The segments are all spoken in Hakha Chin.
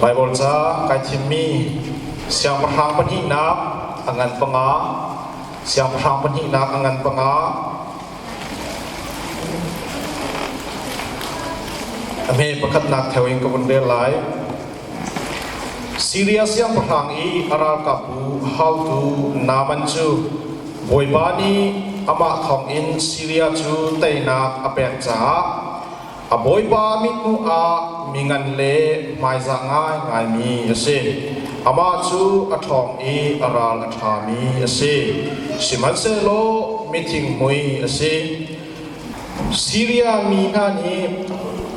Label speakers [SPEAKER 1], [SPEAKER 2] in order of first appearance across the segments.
[SPEAKER 1] Baibal ca kai thimmi siangpahrang pahnihnak a ngan panga siangpahrang pahnihnak a ngan panga a hme pakhatnak theo in ka vun rel lai Siria siangpahrang i a ralkapbu haotu Naman cu Bawipa nih amah thawngin Siria cu teinak a pek caah A bawipa mit hmuh ah mi ngan le hmaiza ngaingaimi a si. Amah cu a ṭhawng i a ral a ṭhami a si. Sihmanhsehlaw mithingmui a si. Siria mi hna nih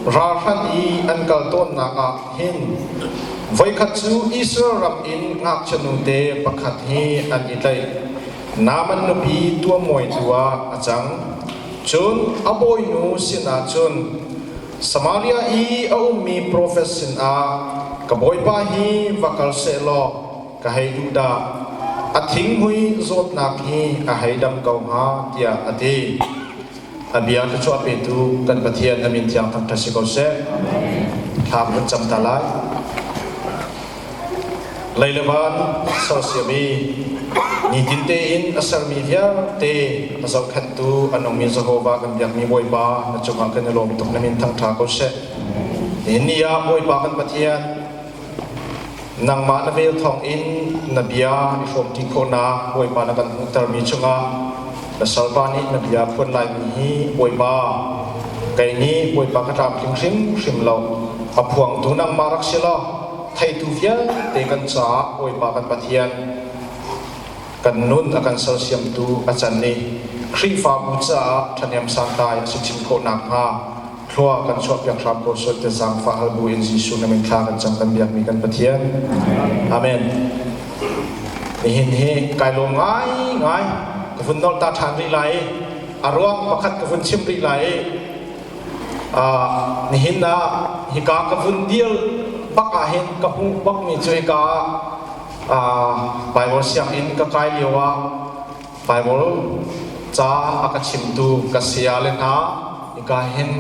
[SPEAKER 1] ralhrang i an kal tawnnak ah hin voikhat cu Israel ram in ngakchianu te pakhat hi an i tlaih. Naaman nupi tuamawi tu ah a cang. Cun a bawinu sinah cun, Samaria i a ummi profet sinah, Ka bawipa hi va kal seh law ka hei duh dah. A thinghmui zawtnak hi ka hei dam ko hnga, tiah a ti. A bia na chuah petu kan Pathian na min thiang thangṭhat si ko seh. Thla kan cam ta lai. Leilevan sersiam i nitin tein a sermi vialte a zohkhanhtu a nungmi Jehovah kan biakmi Bawipa na cungah kan i lawm tuk na min thangṭha ko seh. Nihin ni ah Bawipa kan Pathian Nangmah na vel thawng in na bia i hrawm ṭi khawhnak Bawipa na kan hmuhtermi chungah na salpa nih na bia phuan laimi hi Bawipa kei nih Bawipa ka tlamtling hrimhrim lo a phuangtu nangmah rak si law theitu vialte kan caah Bawipa kan Pathian kan nun a kan sersiamtu a can i Khrihfabu caah ṭhahnem sang tlai a si chin khawh nakhnga Thlua kan chuah piak hram ko sual tiah zaangfah hal bu in Jesuh nih min thla kan cam kan biakmi kan Pathian. Amen. Nihin hi kai lawm ngai ngai ka vun nol ta ṭhan rih lai i a ruang pakhat ka vun chim rih lai i uh, nihin ah hika ka vun dir bak ah hin ka hmuh bakmi cu hika ah uh, Bible sianginn ka kai lio ah Baibal ca a ka chimtu ka saya le hna ika hin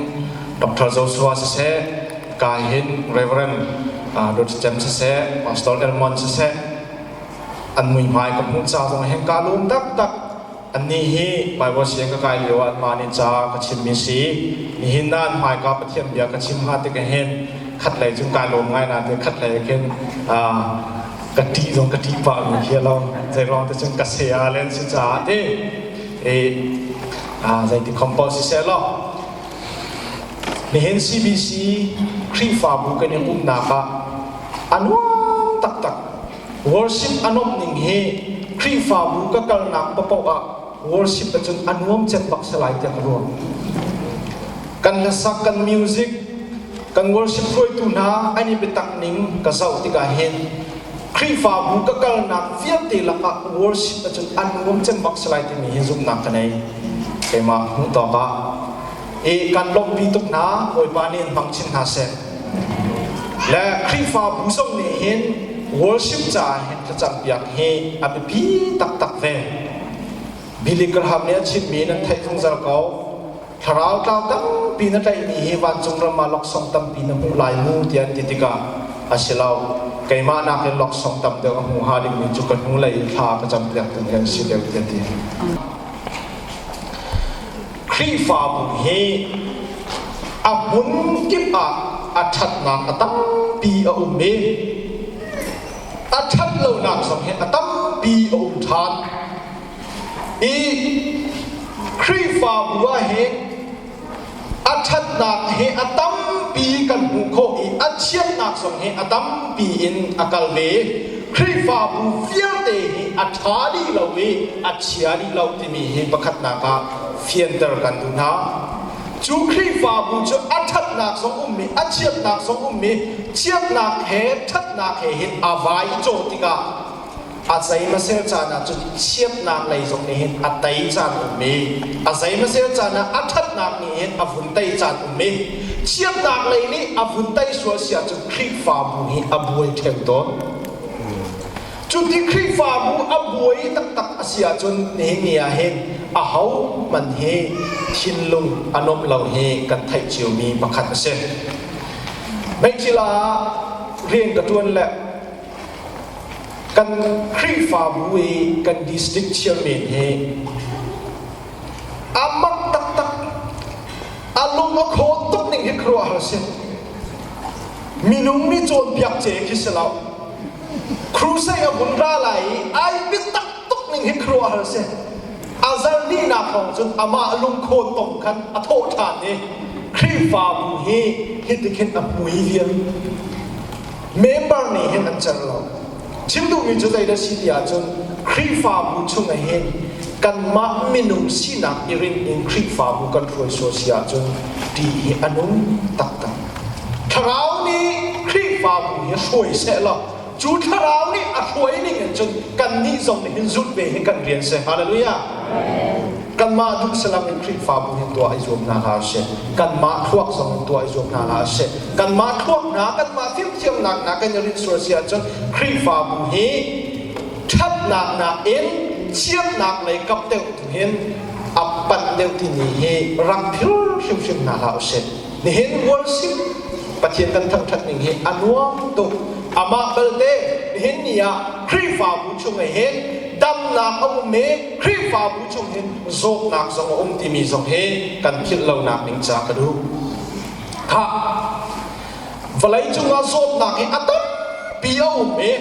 [SPEAKER 1] Dr. Joshua siseh ka hin Reverend uh, Luther Chem siseh Pastor Elmon siseh an mui hmai ka hmuh ca zong hin ka lum taktak anni hi Bible siang ka kai lio an ma nin ca ka chimmi si nihin na an hmai ka Pathian bia ka chim ha te ka hin khat lei chung kai lum ngai na te khat lei khin uh, ka ti zong ka ti pah mi hi lawng zeiruang te cun ka se a len si caah te e zei ti compose si se law nihin CBC Khrihfabu kan in umnak ah anuam taktak worship anop ning hi Khrihfabu ka kalnak papoh ah Worship acun a nuam cem bak salai tiang a ruang. Kan hlasak, kan music, kan worship hruaitu hna an i bitak ning ka zoh tikah hin Khrihfabu ka kalnak vialte lakah worship acun an nuam cem bak salai timi hi zumhnak ka nei. Keimah hmuh tawkah i kan lawmhpi tuk hna Bawipa nih in hmang chin hna seh le Khrihfabu zong nih hin worship caah hin thlacam piak hi a biapi taktak ve Billy Graham nih a chimmi nan theih zungzal ko thlarau tlau tampi na tlaihmi hi vancung ram ah laksawng tampi na hmuh lai mu tiah an ti tikah a si lo keimah nakin laksawng tam deuh a hmu hnga dingmi cu ka hnulei thla ka cam piak tu hi an si deuh tiah ti Khrihfabu hi a hmun kip ah a ṭhatnak a tampi a um i a ṭhat lonak zong hi a tampi a um ṭhan. I Khrihfabu ah hi a ṭhatnak hi a tampi kan hmuh khawh i a chiatnak zong hi a tampi in a kal ve. Khrihfabu vialte hi a ṭha dih lo i a chia dih lo timi hi pakhatnak ah fianter kan duh hna cu Khrihfabu cu a ṭhatnak zong ummi a chiatnak zong ummi chiatnak he ṭhatnak he hin a vai cawh tikah a zeimasel caan ah cun chiatnak lei zong nih hin a tei caan ummi a zeimasel caan ah a ṭhatnak nih hin a vun tei caan ummi chiatnak lei nih a vun tei sual sia cun Khrihfabu hi a buai ṭhem tawn Cuti Khrihfabu a buai taktak a si ahcun nihingi ah hin a ho hman hi thinlung a nuamh lo hi kan theih ciumi pakhat a si. Meichil ah rian ka ṭuan le kan Khrihfabu i kan district chairman hi a mak taktak a lung a khawn tuk ning hi khuaruahhar a si. Minung nih cawnpiak ce khi si lo crusade a vun ra lai i ai bik taktuk ning hi khuaruahhar si a zarhninak thawng cun amah lungkhawn tong khan a thawh ṭhan i Khrihfabu hi hitikhin a hmui vial member nih hin an cer lo chim duhmi cu zei da si ti ahcun Khrihfabu chung hin kanmah minung sinak i rin in Khrihfabu kan hruai sual si ahcun ṭih hi a nung taktak Thlarau nih Khrihfabu hi a hruai sehlaw cu thlarau nih a hruai ning in cun kannih zong nih hin zulh ve hi kan rian si. Hallelujah. Kanmah duh salam in Khrihfabu hin tuah i zuam hna hlah sih. Kanmah thluak zong in tuah i zuam hna hlah sih. Kanmah thluak hna, kanmah fimthiamnak hna kan i rinh sual si ahcun Khrihfabu hi thatnak nakin chiatnak lei kap deuh hin a panh deuh timi hi rak phir hrimhrim hna hlah usih. Nihin worship Pathian kan thangṭhat ning hi a nuam tuk. Amah belte nihin ni ah Khrihfabu chung ah hin damnak a um i Khrihfabu chung hin zawtnak zong a um timi zong hi kan philh lonak ding ca ka duh. Ha! Vawlei cung ah zawtnak hi a tampi a um i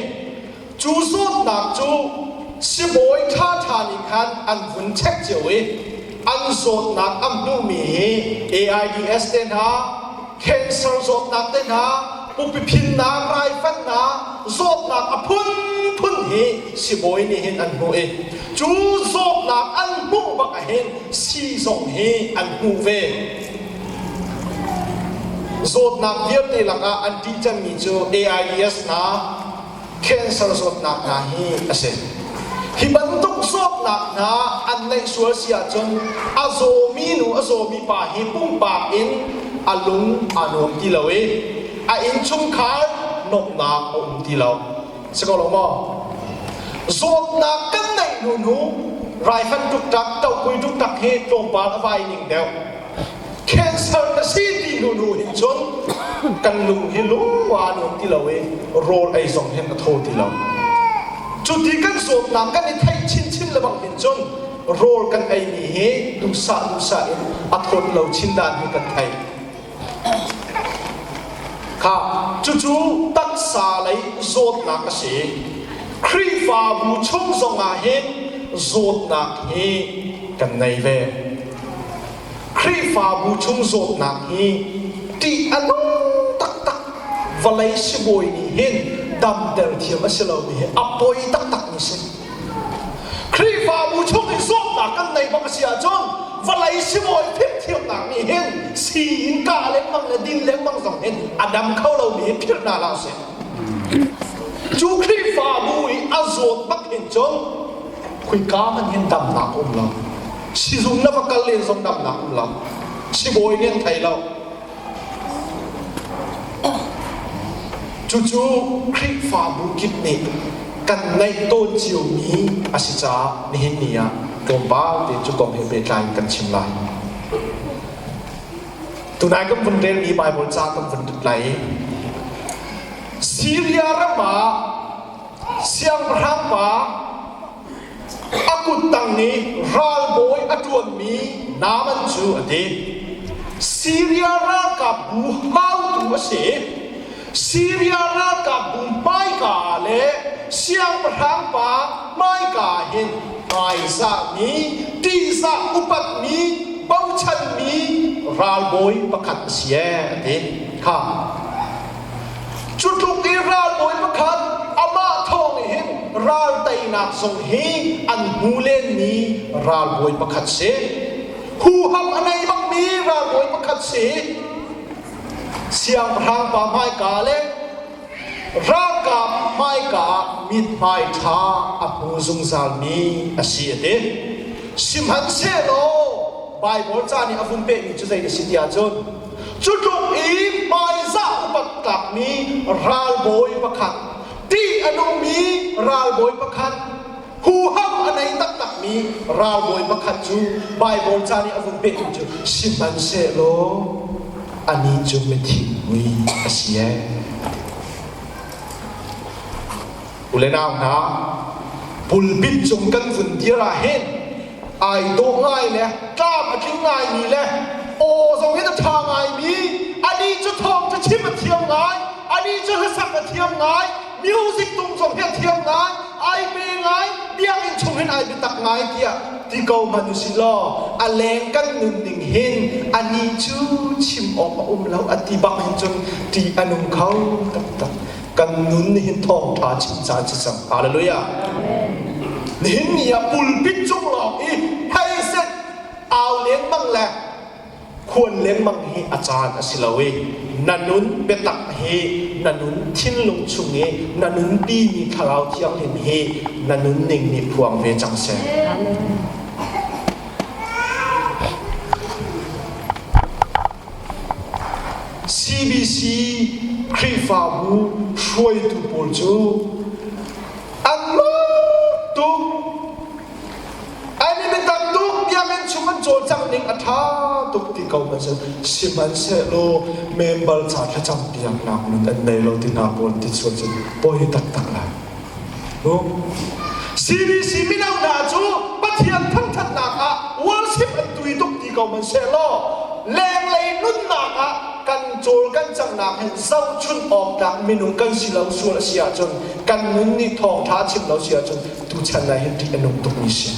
[SPEAKER 1] Cu zawtnak cu sibawi ṭhaṭha nih khan an vun check cio i an zawtnak an hmuhmi hi AIDS te hna, cancer zawtnak te hna, pupi phinnak, raifanh zawtnak a phunphun hi sibawi nih hin an hmuh i cu zawtnak an hmuh bak ahhin sii zong hi an hmuh ve. Zawtnak vialte lakah an ṭih cemmi cu AIDS hna, cancer zawtnak hna hi a si. Hi bantuk zawtnak hna an neih sual si ahcun a zawmi nu a zawmi pa hi pumpak in a lung aa nuam ti lo i a innchungkhar nuamhnak a um ti lo. Si ko lo maw? Zawtnak kan neih hnu nu raifan tuk tak, tohpui tuk tak hi tlawmpal a vai ning deuh. cancer ka si ti hnu nu hin cun kan lung hi lua nuam ti lo i rawl ei zong hen ka tho ti lo cuti kan zawtnak kan i theih chinchin le bang hin cun rawl kan ei ni hi duhsah duhsah in a thawt lo chin dan hi kan thei kha cucu taksa lei zawtnak a si Khrihfabu chung zongah hin zawtnak hi kan nei ve Khrihfabu chung zawtnak hi tih a dong taktak vawlei sibawi nih hin damter thiam a si lomi hi a poi taktak mi si Khrihfabu chung i zawtnak kan nei bak a si ahcun vawlei sibawi phirhthiamnak nih hin sii in kah lengmang le din lengmang zong hin a dam kho lomi hi phirh hna hlah sih cu Khrihfabu i a zawt bak hin cun khuika man hin damnak a um lo Sizung na va kal len zong namnak um lo. Sibawi nih an thei lo. Cucu Khrihfabu kip nih kan neih tawn ciomi a si caah nihin ni ah tlawmpal te cu kom he pehtlai in kan chim lai. Tunai kan vun relmi Bible ca kan vun lai. Syria ram ah siangpahrang pa A kuttang nih ralbawi a ṭuanmi Naaman cu a ti. Siria ralkapbu haotu a si. Siria ralkapbu hmaika le siangpahrang pa hmaika hin raizahmi, ṭihzah upatmi, bochanmi ralbawi pakhat a si ee, a ti. Kha Cutluk i ralbawi pakhat amah thawng hin ral teinak zong hi an hmu lenmi ralbawi pakhat si. Huham a nei bangmi ralbawi pakhat si. Siangpahrang pa hmaika le ralka hmaika ah mithmai ṭha a hmu zungzalmi a si a ti. Sihmanhsehlaw Baibal ca nih a vun pehmi cu zei a si ti ahcun Cutluk i hmaizah upat tlakmi ralbawi pakhat, tih a nungmi ralbawi pakhat, huham a nei taktakmi ralbawi pakhat cu Baibal ca nih a vun pehtu cu sihmanhsehlaw anih cu mithingpui a si e. Ule nau hna, pulpit cung kan vun dir ah hin ai dawh ngai le tlam a tling ngaimi le aw zo in a ṭha ngaimi ani cu thawng cu chim a thiam ngai ani cu hlasak a thiam ngai music tung zong hi a thiam ngai ai pe ngai biakinn chung hin ai biatak ngai tiah ti ko hmanh u si law a leng kan nun ning hin ani cu chim awk a um lo a ti bak in cun ṭih a nung kho taktak kan nun nihin thawngtha chim caan si cang hallelujah nihin ni ah pulpit cung lawng hi hei set au lengmang le khuan lengmang hi a caan a si lo i na nun biatak hi na nun thinlung chung i na nun pi mi thlarau thianghlim hi na nun ning nih phuang ve cang seh CBC Khrihfabu hruaitu pawl cu angmah tuk an in biatak tuk tiangin chung an cawlcangh ning a ṭha tuk ti ko ma cu sihmanhsehlaw membal ca thlacam piaknak nun an nei lo ti hna pawl an ti chuah cun pawi taktak lai. CDC mino hna cu Pathian thangṭhatnak ah worship an tui tuk ti ko hmanhsehlaw lenglei nunnak ah kan cawl kan cangnak hi zohchunh awk tlak minung kan si lo sual a si ahcun kan nun nih thawngṭha chim lo si ahcun tuchan ah hin ṭih a nung tukmi si.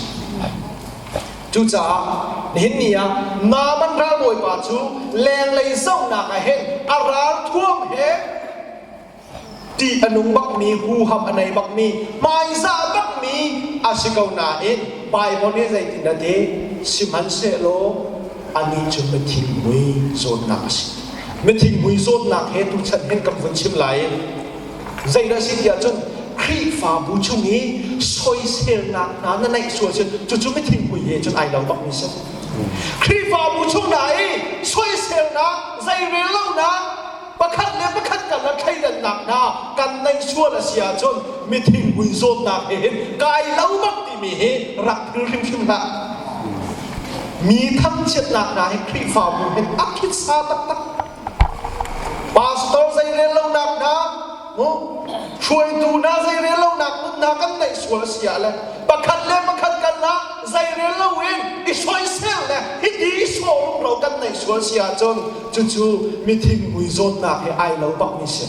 [SPEAKER 1] Cucaah nihin ni ah Naman ralbawipa cu lenglei zohnak ah hin a ral thuam he ṭih a nung bakmi huham a nei bakmi hmaizah bakmi a si ko nain Baibal nih zeitin a ti sihmanhsehlaw anih cu mithingmui zawtnak a si mithingmui zawtnak he tuchan hin kan vun chim lai zeidah a si tiah cun Khrihfabu chung i soiselnak hna na neih sual si cucu mithingmui he cun ai lo bakmi si Khrihfabu chung hna i soiselnak zeirellonak pakhat le pakhat kan la thleidannak hna kan neih sual a si ahcun mithingpui zawtnak he hin kai lo bak timi hi rak phil hrimhrim hlah mi thangchiatnak hna hi khrihfabu he a khitsa taktak pastor zei rel lonak hna hruaitu hna zeirel lonak nun hna kan neih sual a si ah le pakhat le pakhat kan hlah zeirel lo in i soisel le hiti i ro kan neih sual si ahcun cucu mithingmui zawtnak he ai lo pah mi si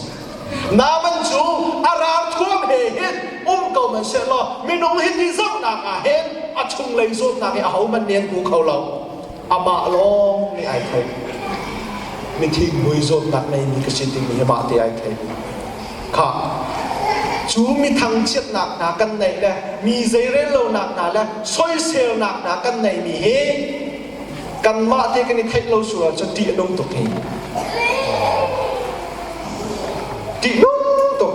[SPEAKER 1] naman cu a rar thuam he hin um ko man se law minung hi ti zohnak ah hin a chung lei zawtnak hi a ho man nen ku kho lo amah lawng nih ai thei mi thinghmui zawtnak ngeimi ka si timi hi mah te ai thei kha cu mi thangchiatnak hna kan neih le mi zeirellonak hna le soiselnak hna kan neihmi hi kanmah te kan i theih lo sur ahcun ṭih a nung tuk hi ṭih nung tuk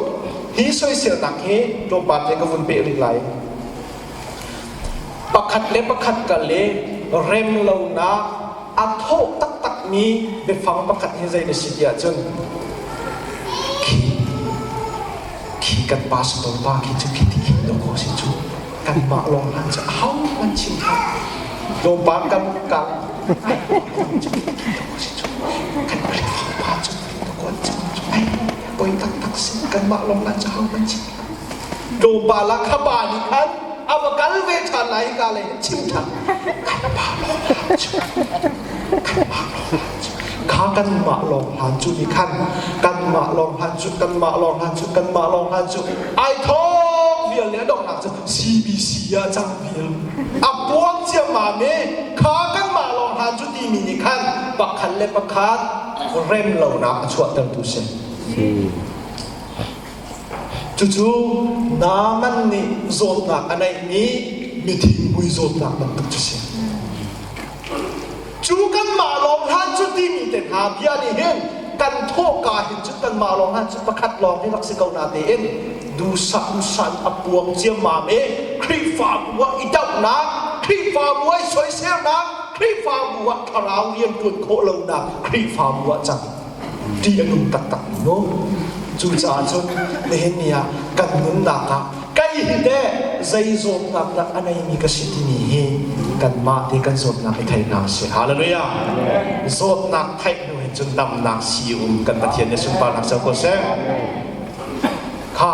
[SPEAKER 1] hi soiselnak hi tlawmpal te ka vun peh rih lai pakhat le pakhat ka let rem lonak a thawh taktakmi biafang pakhat hi zei na si ti ahcun khi khi kan pastor pa khi cu khi ti him lo ko si cu kanmah lawng hlan cu a hohmanh chim thai lawmpang kan kang ai cu si cu kan Khrihfa pa cu pakwan cu ai poi taktak si kanmah lawng hlan cu hohmanh chim Tlawmpa lah ka pa nih khan a va kal ve ṭhan lai ka le chim ṭhan kan pa lawng hlan cu kan pa lawng hlan cu kha kanmah lawng hlan cu nih khan kanmah lawng hlan cu kanmah lawng hlan cu kanmah lawng hlan cu ai thawk vial le a donghnak cu CBC ah cang vial a puang ciammam i kha kanmah lawng hlan cu timi nih khan pakhat le pakhat rem lonak a chuahtertu si Cucu Naaman nih zawtnak a neihmi mithingmui zawtnak bantuk cu si. Cu kanmah lawng hlan cu timi te hna bia nih hin kan thawhka hin cun kanmah lawng hlan cu pakhat lawng hi rak si ko na tein duhsah duhsah in a puang ciammam i Khrihfabu ah i dohnak Khrihfabu ah i soiselnak Khrihfabu ah thlarau rian ṭuan khawh lonak Khrihfabu ah cang. ṭih a nung taktak mu. Cucaah cun Nehemiah kan nunnak ah ka i hit e zei zawtnak dah a neimi ka si timi hi kanmah te kan zawtnak i thei hna sih. Hallelujah. Zawtnak theih hnu hin cun damnak si um kan Pathian nih sunparnak ser ko seh. Kha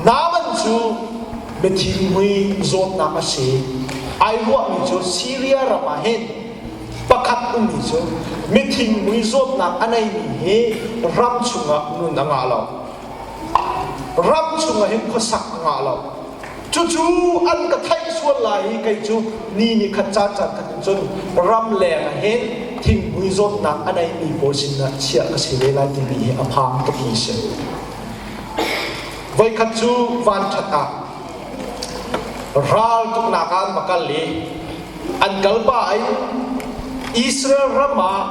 [SPEAKER 1] naman cu mithinhmui zawtnak a si. Ai ruahmi cu Syria ram ah hin pakhat ummi cu mithingmui zawtnak a neimi hi ram chungah nun a ngah lo ram chungah hin khuasak a ngah lo cucu an ka theih sual lai i kei cu ni ni khat caan caan khat in cun ram leng ah hin thingmui zawtnak a neimi pawl sin ah chiah ka si ve lai timi hi a phang tuk mi si voikhat cu van ṭhat ah Ral tuknak ah an va kal i an kal pa in Israel ram ah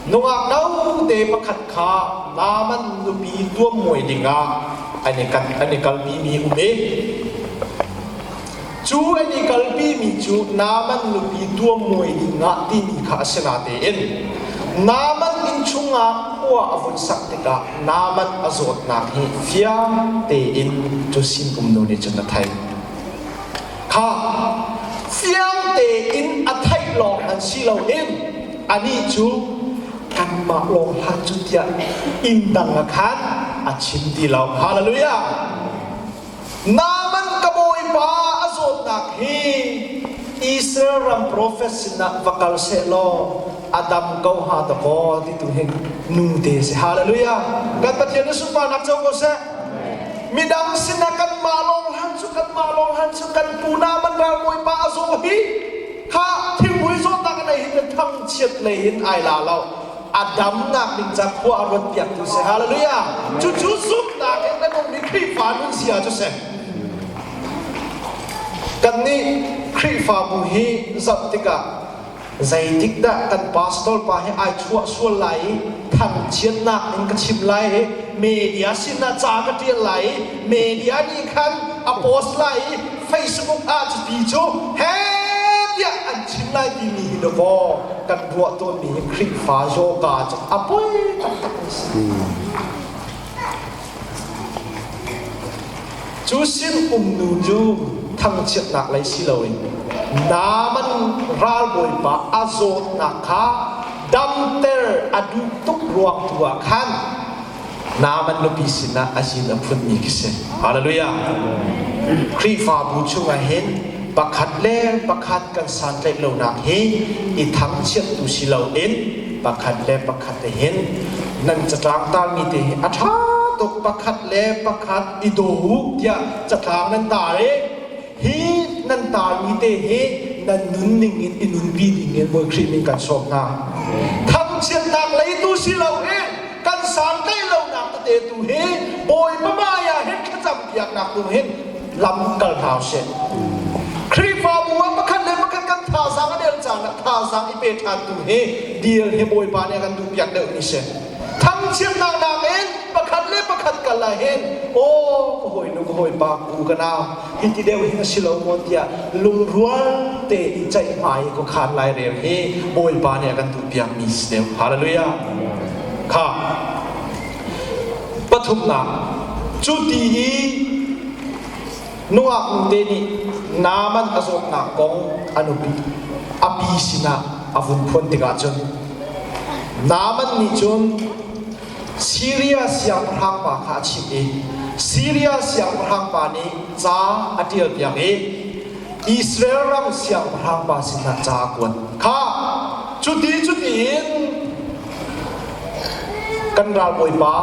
[SPEAKER 1] nungak note pakhat kha Naaman nupi tuammuai dingah an i kan an i kalpi mi um i cu an i kalpi mi cu Naaman
[SPEAKER 2] nupi tuammuai dingah timi kha a si na tein Naaman inn chungah khua a vun sak tikah Nabat a zawtnak hi fiang tein cu sinum nu nih cun a theih. Kha fiang tein a theih lawng an si loin anih cu kanmah lawng hlah cu tiah inn dang a khan a chim ti lo. Hallelujah! Naaman ka bawipa a zawtnak hi Israel ram profet sinah va kal seh law a dam ko ha ta kaw ti tu hin nu te si hallelujah kan pathian na sunparnak co ko seh midang sinah kanmah lawng han cu kanmah lawng han cu kan pu Naaman ral bawipa a zaw hi ha thingpui zawtnak in ai hin le thangchiat lei in ai la lo a damnak ding ca khua a ruat piaktu si hallelujah cucu zumhnak in kan ummi Khrihfa nun zia cu si kannih Khrihfabu hi zoh tikah zeitik dah kan pastor pa hi ai chuah sual lai i thangchiatnak in ka chim lai i media sinah ca ka tial lai i Media nih khan a post lai i Facebook ah cu ti cu he tiah an chim lai timi hi dawfaw kan ruah tawnmi hi Khrihfa yoga cu a poi taktak mi si. Cu sim umnu cu thangchiatnak lei si loin naman ralbawipa a zawtnak kha damter a duh tuk ruang tu ah khan Naaman nupi sinah a zin a phunmi ka si. Hallelujah! Khrihfabu chungah hin pakhat le pakhat kan santlaih lonak hi i thangchiattu si loin pakhat le pakhat te hin nan catlang talmi te hi a ṭha tuk pakhat le pakhat i daw u tiah catlang nan tar i hi nan tarmi te hi nan nunning in i nunpi ding in Bawi Khrih nih kan sawm hna thangchiatnak lei tu si lo i kan santlaih lonak tete tu hi Bawipa maya hin thlacam biaknak tu hin lam kal hna sih Khrihfabu ah pakhat le pakhat kan thazang a der caan ah thazang i pe ṭhan tu hi deal hi Bawipa nih a kan duh piak deuh ni si thangchiatnak nakin pakhat le pakhat kal ahhin aw ka hawinu ka hawipa ku ka nau hiti deuh hi a si lo maw tiah lungrual te i ceih hmai ko khan lai reu hi bawipa nih a kan duhpiakmi si deuh hallelujah kha pathumnak cu ti hi Nungak nute nih naman a zawtnak kong an upi. A pi sinah a vun phuan tikah cun Naaman nih cun Syria siangpahrangpa kha a chimh i Syria siangpahrangpa nih ca a ṭialpiak i Israel ram siangpahrangpa sinah ca a kuat. Kha cuti cutiin Kan ralbawipa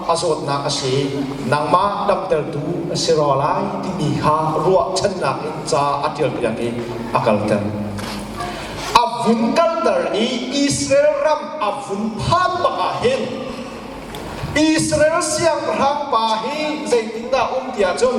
[SPEAKER 2] a zawtnak a si, nangmah damtertu a si rua lai timi kha ruahchannak in ca a ṭialpiak i a kalter. A vun kalter i Israel ram a vun phan bak ah hin Israel siangpahrang pa hi zeitindah a um ti ahcun